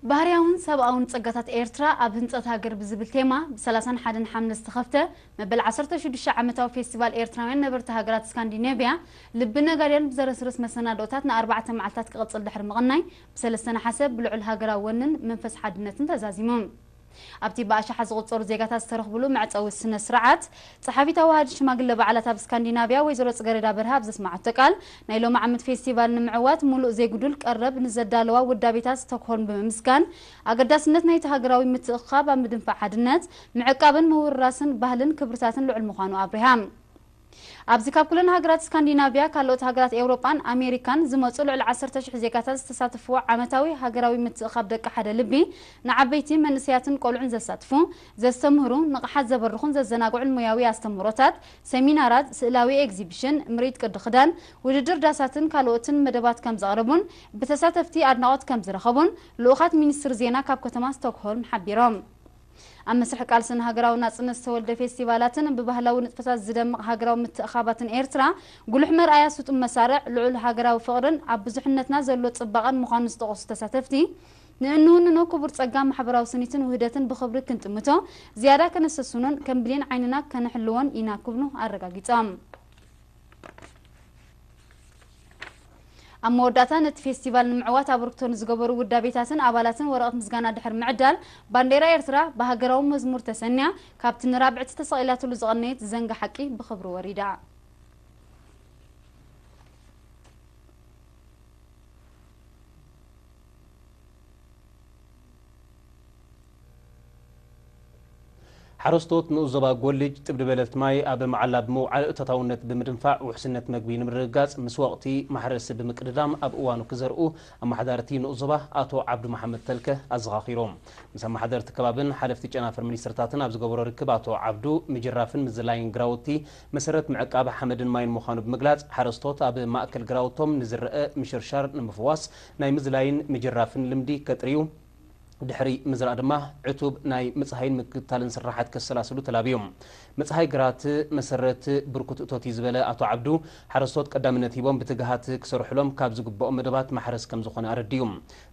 ባህርያውን ሰብኣውን ጸጋታት ኤርትራ ኣብ ህንጸት ሃገር ብዝብል ቴማ ብ ሰላሳን ሓደን ሓምለ ዝተኸፍተ መበል ዓሰርተ ሽዱሽተ ዓመታዊ ፌስቲቫል ኤርትራውያን ነበርቲ ሃገራት ስካንዲኔቭያ ልቢ ነጋድያን ብዘረስርስ መሰናድኦታት ንኣርባዕተ መዓልታት ክቕጽል ድሕሪ ምቕናይ ብ ሰለስተ ነሓሰ ብልዑል ሃገራዊ ወንን መንፈስ ሓድነትን ተዛዚሙ። ኣብቲ ብኣሽሓት ዝቑጸሩ ዜጋታት ዝተረኽብሉ መዕጸዊ ስነ-ስርዓት፣ ጸሓፊት ኣዋሃዲት ሽማግለ በዓላት ኣብ ስካንዲናቭያ ወይዘሮ ጽገረዳ በርሀ ኣብ ዘስመዓቶ ቃል፣ ናይ ሎምዓመት ፌስቲቫል ንምዕዋት ምሉእ ዘይጉዱል ቀረብ ንዘዳለዋ ውዳቤታት ስቶክሆልም ብምምስጋን፣ ኣገዳስነት ናይቲ ሃገራዊ ምትእኽኻብ ኣብ ምድንፋዕ ሓድነት፣ ምዕቃብን ምውርራስን ባህልን ክብርታትን ልዑል ምዃኑ ኣብሪሃ። ኣብዚ ካብ ኩለን ሃገራት ስካንዲናቭያ፣ ካለኦት ሃገራት ኤውሮጳን ኣሜሪካን ዝመጹ ልዕሊ ዓሰርተ ሽሕ ዜጋታት ዝተሳተፍዎ ዓመታዊ ሃገራዊ ምትእኽኻብ ደቂ ሓደ ልቢ ንዓበይቲ፣ መንእሰያትን ቆልዑን ዘሳትፉ፣ ዘስተምህሩ፣ ንቕሓት ዘበርኹን ዘዘናግዑን ሞያዊ ኣስተምህሮታት፣ ሰሚናራት፣ ስእላዊ ኤግዚብሽን፣ ምርኢት ቅዲ ክዳን፣ ውድድር ዳሳትን ካልኦትን መደባት ከምዘቕረቡን ብተሳተፍቲ ኣድናቖት ከምዝረኸቡን ልኡኻት ሚኒስትሪ ዜና ካብ ከተማ ስቶክሆልም ሓቢሮም። ኣብ መስርሕ ቃልሲ ንሃገራዊ ናጽነት ዝተወልደ ፌስቲቫላትን ብባህላዊ ንጥፈታት ዝደምቕ ሃገራዊ ምትእኻባትን ኤርትራ፣ ጉሉሕ መርኣያ ስጡም መሳርዕ ልዑል ሃገራዊ ፍቕርን ኣብ ብዙሕነትና ዘሎ ጽባቐን ምዃኑ ዝጠቐሱ ተሳተፍቲ፣ ንእንውንኖ ክቡር ጸጋ ማሕበራዊ ስኒትን ውህደትን ብኽብሪ ክንጥምቶ፣ ዝያዳ ከነሰስኖን ከም ብሌን ዓይንና ከነሕልዎን ኢና ክብሉ ኣረጋጊጾም። ኣብ መወዳእታ ነቲ ፌስቲቫል ንምዕዋት ኣበርክቶ ንዝገበሩ ውዳቤታትን ኣባላትን ወረቐት ምስጋና ድሕሪ ምዕዳል፣ ባንዴራ ኤርትራ ብሃገራዊ መዝሙር ተሰንያ ካብቲ ንራብዕቲ ተሰቒላትሉ ዝቐነየት ዝዘንጊ ሓቂ ብኽብሪ ወሪዳ። ሓረስቶት ንኡስ ዞባ ጎልጅ ጥብዲ በለልቲ ማይ ኣብ መዓላ ብምውዓል ተታውነት ብምድንፋዕ ውሕስነት መግቢ ንምርግጋፅ ምስ ወቕቲ ማሕረሲ ብምቅድዳም ኣብ እዋኑ ክዘርኡ ኣመሓዳሪ እቲ ንኡስ ዞባ ኣቶ ዓብዱ መሓመድ ተልከ ኣዘኻኺሮም። ምስ ኣመሓደርቲ ከባብን ሓለፍቲ ጨናፍር ሚኒስትርታትን ኣብ ዝገበሮ ርክብ ኣቶ ዓብዱ ምጅራፍን ምዝላይን ግራውቲ መሰረት ምዕቃብ ሓመድን ማይን ምዃኑ ብምግላፅ ሓረስቶት ኣብ ማእከል ግራውቶም ንዝረእ ምሽርሻር ንምፍዋስ ናይ ምዝላይን ምጅራፍን ልምዲ ከጥርዩ ድሕሪ ምዝራእ ድማ ዕቱብ ናይ ምፅሃይን ምክትታልን ስርሓት ከሰላስሉ ተላብዮም። ምፅሃይ ግራት መሰረት ብርኩት እቶት እዩ ዝበለ ኣቶ ዓብዱ፣ ሓረስቶት ቀዳምነት ሂቦም ብትግሃት ክሰርሑሎም ካብ ዝግበኦም መደባት ማሕረስ ከምዝኾነ ኣረዲኡ።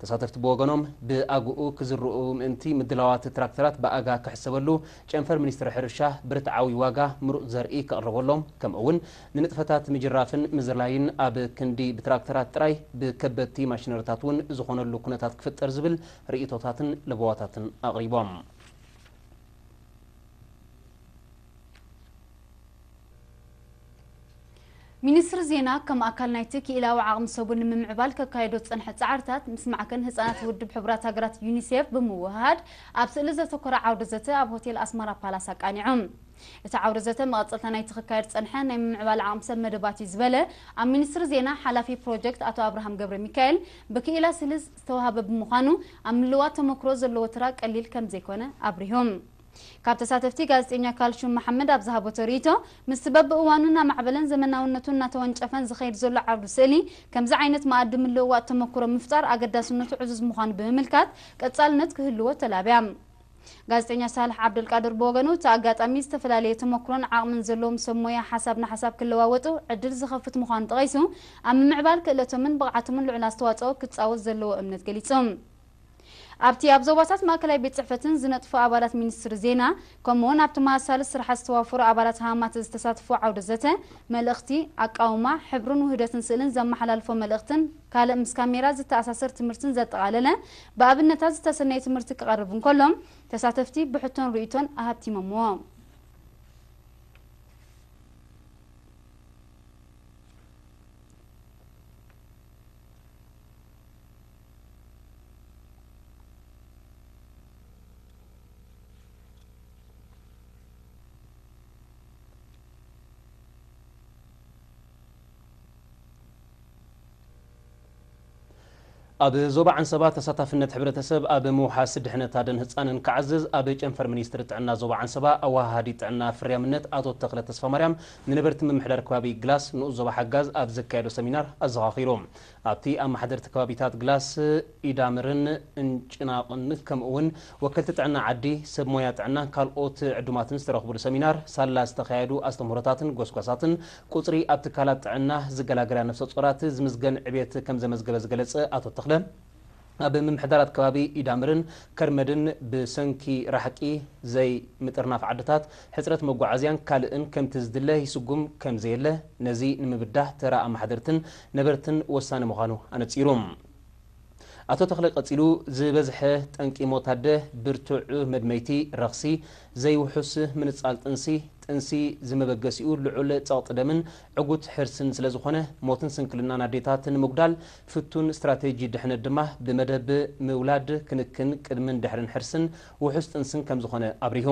ተሳተፍቲ ብወገኖም ብኣግኡ ክዝርኡ ምእንቲ ምድላዋት ትራክተራት ብኣጋ ክሕሰበሉ፣ ጨንፈር ሚኒስትሪ ሕርሻ ብርትዓዊ ዋጋ ምሩፅ ዘርኢ ከቕርበሎም ከምኡ'ውን ንንጥፈታት ምጅራፍን ምዝላይን ኣብ ክንዲ ብትራክተራት ጥራይ ብከበድቲ ማሽነሪታት እውን ዝኾነሉ ኩነታት ክፍጠር ዝብል ርእይቶታትን ለበዋታትን ኣቕሪቦም። ሚኒስትሪ ዜና ከም ኣካል ናይቲ ክኢላዊ ዓቕሚ ሰጉን ንምምዕባል ከካየዶ ዝጸንሐ ጻዕርታት ምስ ማዕከን ህጻናት ውድብ ሕቡራት ሃገራት ዩኒሴፍ ብምውህሃድ ኣብ ስእሊ ዘተኮረ ዓውደ ዘተ ኣብ ሆቴል ኣስመራ ፓላስ ኣቃኒዑ። እቲ ዓውደ ዘተ መቐጸልታ ናይቲ ክካየድ ዝጸንሐ ናይ ምምዕባል ዓቕሚ ሰብ መደባት እዩ ዝበለ ኣብ ሚኒስትሪ ዜና ሓላፊ ፕሮጀክት ኣቶ ኣብርሃም ገብረሚካኤል፣ ብክኢላ ስልዝ ዝተወሃበ ብምዃኑ ኣብ ምልውዋጥ ተሞክሮ ዘለዎ ተራ ቀሊል ከምዘይኮነ ኣብሪሁ። ካብ ተሳተፍቲ ጋዜጠኛ ካልሹም መሓመድ ኣብ ዝሃበቶ ርኢቶ፣ ምስቲ በብእዋኑ እናማዕበለን ዘመናውነቱ እናተወንጨፈን ዝኸይድ ዘሎ ዓውዲ ስእሊ፣ ከምዚ ዓይነት መኣዲ ምልውዋጥ ተሞክሮ ምፍጣር ኣገዳስነቱ ዕዙዝ ምዃኑ ብምምልካት ቀጻልነት ክህልዎ ተላብያ። ጋዜጠኛ ሳልሕ ዓብደልቃድር ብወገኑ፣ እቲ ኣጋጣሚ ዝተፈላለየ ተሞክሮን ዓቕምን ዘለዎም ሰብ ሞያ ሓሳብ ንሓሳብ ክለዋወጡ ዕድል ዝኸፍት ምዃኑ ጠቒሱ፣ ኣብ ምምዕባል ክእለቶምን ብቕዓቶምን ልዑል ኣስተዋጽኦ ክጻወት ዘለዎ እምነት ገሊጹ። ኣብቲ ኣብ ዞባታት ማእከላይ ቤት ጽሕፈትን ዝነጥፉ ኣባላት ሚኒስትሪ ዜና፣ ከምኡ'ውን ኣብ ተመሳሳሊ ስራሓት ዝተዋፈሩ ኣባላት ሃማተ ዝተሳተፍዎ ዓውደ ዘተ፣ መልእኽቲ፣ ኣቃውማ፣ ሕብርን ውህደትን ስእልን ዘመሓላልፎ መልእኽትን፣ ካልእ ምስ ካሜራ ዝተኣሳሰር ትምህርትን ዘጠቓለለ ብኣብነታት ዝተሰነየ ትምህርቲ ክቐርብ እንከሎ፣ ተሳተፍቲ ብሕቶን ርእይቶን ኣሀብቲሞምዎ። ኣብ ዞባ ዓንሰባ ተሳታፍነት ሕብረተሰብ ኣብ ምውሓስ ድሕነት ኣደን ህፃንን ክዓዝዝ ኣብ ጨንፈር ሚኒስትሪ ጥዕና ዞባ ዓንሰባ ኣወሃሃዲ ጥዕና ፍርያምነት ኣቶ ተኽለ ተስፋማርያም ንነበርቲ ምምሕዳር ከባቢ ግላስ ንኡስ ዞባ ሓጋዝ ኣብ ዘካየዶ ሰሚናር ኣዘኻኺሩ። ኣብቲ ኣመሓደርቲ ከባቢታት ግላስ፣ ኢዳምርን እንጭናቕን ከምኡ እውን ወከልቲ ጥዕና ዓዲ፣ ሰብ ሞያ ጥዕናን ካልኦት ዕዱማትን ዝተረኽቡሉ ሰሚናር ሳላ ዝተኻየዱ ኣስተምህሮታትን ጎስጓሳትን ቁፅሪ ኣብ ትካላት ጥዕና ዝገላገላ ነፍሰፆራት ዝምዝገን ዕቤት ከምዘመዝገበ ዝገለፀ ኣቶ ተኽለ፣ ኣብ ምምሕዳራት ከባቢ ኢዳምርን ከርመድን ብሰንኪ ራሕቂ፣ ዘይ ምጥርናፍ ዓድታት፣ ሕፅረት መጓዓዝያን ካልእን ከምቲ ዝድለ ይስጉም ከምዘየለ ነዚ ንምብዳህ ተራ ኣማሓደርትን ነበርትን ወሳኒ ምዃኑ ኣነፂሩ። ኣቶ ተኽለ ቀጺሉ፣ ዝበዝሐ ጠንቂ ሞት ኣደ፣ ብርቱዕ መድመይቲ፣ ረኽሲ፣ ዘይውሑስ ምንጻል ጥንሲ፣ ጥንሲ ዝመበገሲኡ ልዑል ጸቕጢ ደምን ዕጉት ሕርስን ስለዝኾነ፣ ሞትን ስንክልናን ኣዴታት ንምጉዳል ፍቱን ስትራቴጂ ድሕነት ድማ ብመደብ ምውላድ፣ ክንክን ቅድምን ድሕርን ሕርስን ውሑስ ጥንስን ከምዝኾነ ኣብሪሁ።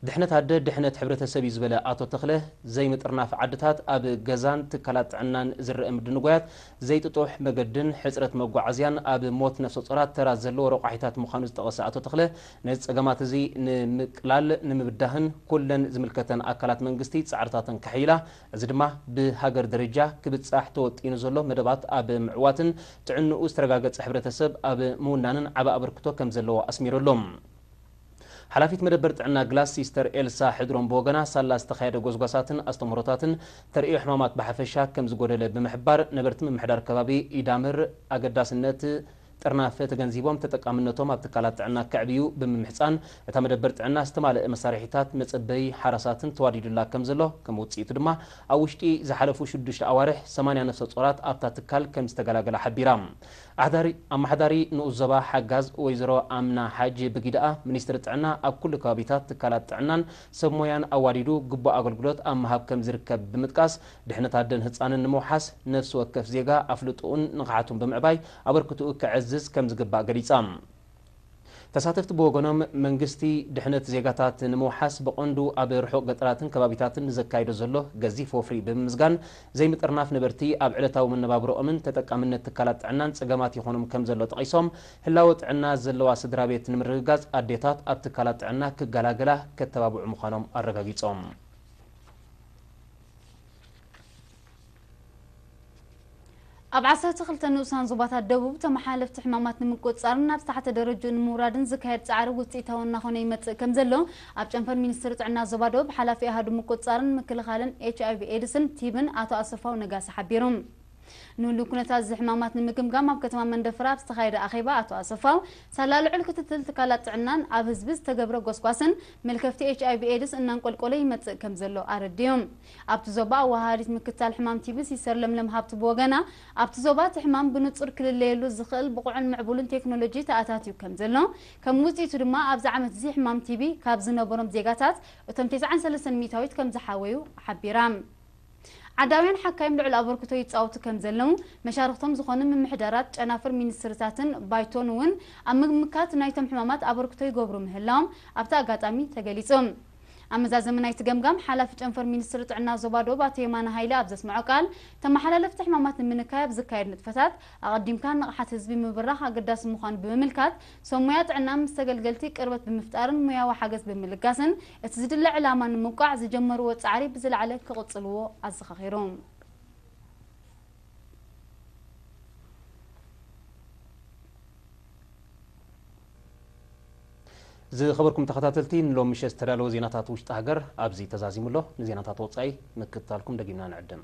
ድሕነት ኣደ ድሕነት ሕብረተሰብ እዩ ዝበለ ኣቶ ተኽለ፣ ዘይምጥርናፍ ዓድታት ኣብ ገዛን ትካላት ጥዕናን ዝረኣ ምድንጓያት፣ ዘይጥጡሕ መገድን ሕፅረት መጓዓዝያን ኣብ ሞት ነፍሰፆራት ተራ ዘለዎ ረቋሒታት ምዃኑ ዝጠቐሰ ኣቶ ተኽለ፣ ነዚ ፀገማት እዚ ንምቅላል ንምብዳህን ኩለን ዝምልከተን ኣካላት መንግስቲ ፃዕርታተን ከሐይላ እዚ ድማ ብሃገር ደረጃ ክብፃሕ ተወጢኑ ዘሎ መደባት ኣብ ምዕዋትን ጥዕንኡ ዝተረጋገፀ ሕብረተሰብ ኣብ ምውናንን ዓቢ ኣበርክቶ ከምዘለዎ ኣስሚሩሉ። ሓላፊት መደበር ጥዕና ግላስ ሲስተር ኤልሳ ሕድሮም ብወገና፣ ሳላ ዝተኻየደ ጎስጓሳትን ኣስተምህሮታትን ተርእዮ ሕማማት ብሓፈሻ ከም ዝጎደለ ብምሕባር፣ ነበርቲ ምምሕዳር ከባቢ ኢዳምር ኣገዳስነት ጥርናፈ ተገንዚቦም ተጠቃምነቶም ኣብ ትካላት ጥዕና ከዕብዩ ብምምሕጻን፣ እታ መደበር ጥዕና ዝተማለኣ መሳርሒታት መጸበዪ ሓራሳትን ተዋዲዱላ ከም ዘሎ፣ ከም ውጽኢቱ ድማ ኣብ ውሽጢ ዝሓለፉ ሽዱሽተ ኣዋርሕ ሰማንያ ነፍሰጾራት ኣብታ ትካል ከም ዝተገላገላ ሓቢራ። ኣመሓዳሪ ንኡስ ዞባ ሓጋዝ ወይዘሮ ኣምና ሓጅ ብግደኣ፣ ሚኒስትሪ ጥዕና ኣብ ኩሉ ከባቢታት ትካላት ጥዕናን ሰብ ሞያን ኣዋዲዱ ግቡእ ኣገልግሎት ኣብ ምሃብ ከምዝርከብ ብምጥቃስ፣ ድሕነት ኣደን ህፃንን ንምውሓስ ነፍሲ ወከፍ ዜጋ ኣፍልጥኡን ንቕሓቱን ብምዕባይ ኣበርክትኡ ከዕዝዝ ከምዝግባእ ገሊፃ። ተሳተፍቲ ብወገኖም፣ መንግስቲ ድሕነት ዜጋታት ንምውሓስ ብቐንዱ ኣብ ርሑቕ ገጠራትን ከባቢታትን ንዘካይዶ ዘሎ ገዚፍ ወፍሪ ብምምዝጋን ዘይምጥርናፍ ነበርቲ ኣብ ዕለታዊ መነባብሮኦምን ተጠቃምነት ትካላት ጥዕናን ጸገማት ይኾኖም ከምዘሎ ጠቒሶም፣ ህላወ ጥዕና ዘለዋ ስድራቤት ንምርግጋጽ ኣዴታት ኣብ ትካላት ጥዕና ክገላገላ ከተባብዑ ምዃኖም ኣረጋጊጾም። ኣብ ዓሰርተ ክልተ ንኡሳን ዞባታት ደቡብ ተመሓላለፍቲ ሕማማት ንምቁፅፃርን ናብ ዝተሓተ ደረጅኡ ንምውራድን ዝካየድ ፃዕሪ ውፅኢታዊ እናኾነ ይመፅእ ከም ዘሎ ኣብ ጨንፈር ሚኒስትሪ ጥዕና ዞባ ደቡብ ሓላፊ ኣሃዱ ምቁፅፃርን ምክልኻልን ኤች ኣይቪ ኤድስን ቲብን ኣቶ ኣሰፋው ነጋሲ ሓቢሩ። ንህሉው ኩነታት እዚ ሕማማት ንምግምጋም ኣብ ከተማ መንደፍራ ኣብ ዝተኻየደ ኣኼባ ኣቶ ኣሰፋው ሳላ ልዑል ክትትል ትካላት ጥዕናን ኣብ ህዝቢ ዝተገብረ ጎስጓስን መልከፍቲ ኤች ኣይቪ ኤድስ እናንቆልቆለ ይመፅእ ከም ዘሎ ኣረዲኦም። ኣብቲ ዞባ ኣወሃሃዲት ምክትታል ሕማም ቲቢ ሲስተር ለምለም ሃብቱ ብወገና፣ ኣብቲ ዞባ እቲ ሕማም ብንጹር ክልለየሉ ዝኽእል ብቑዕን ምዕቡልን ቴክኖሎጂ ተኣታትዩ ከምዘሎ፣ ከም ውጽኢቱ ድማ ኣብዚ ዓመት'ዚ ሕማም ቲቢ ካብ ዝነበሮም ዜጋታት እቶም ተስዓን ሰለስተን ሚእታዊት ከምዝሓወዩ ሓቢራ። ዓዳውያን ሓካይም ልዑል ኣበርክቶ ይጻወቱ ከምዘለው፣ መሻርኽቶም ዝኾኑ ምምሕዳራት፣ ጨናፍር ሚኒስትሪታትን ባይቶን'ውን ኣብ ምምካት ናይቶም ሕማማት ኣበርክቶ ይገብሩ ምህላዎም ኣብቲ ኣጋጣሚ ተገሊጹ። ኣብ መዛዘሚ ናይቲ ገምጋም፣ ሓላፊ ጨንፈር ሚኒስትሪ ጥዕና ዞባ ዶብ ኣቶ የማነ ሃይለ ኣብ ዘስመዖ ቃል፣ ተመሓላለፍቲ ሕማማት ንምንካይ ኣብ ዝካየድ ንጥፈታት፣ ኣቐዲምካ ንቕሓት ህዝቢ ምብራኽ ኣገዳሲ ምዃኑ ብምምልካት፣ ሰብ ሞያ ጥዕና ምስ ተገልገልቲ ቅርበት ብምፍጣርን ሞያዊ ሓገዝ ብምልጋስን እቲ ዝድለ ዕላማ ንምውቃዕ ዝጀመርዎ ጻዕሪ ብዝለዓለ ክቕጽልዎ ኣዘኻኺሩ። ዝኸበርኩም ተኸታተልቲ ንሎሚ ምሸት ዝተዳለወ ዜናታት ውሽጢ ሃገር ኣብዚ ተዛዚሙ ኣሎ። ንዜናታት ወጻኢ ምክትታልኩም ደጊምና ንዕድም።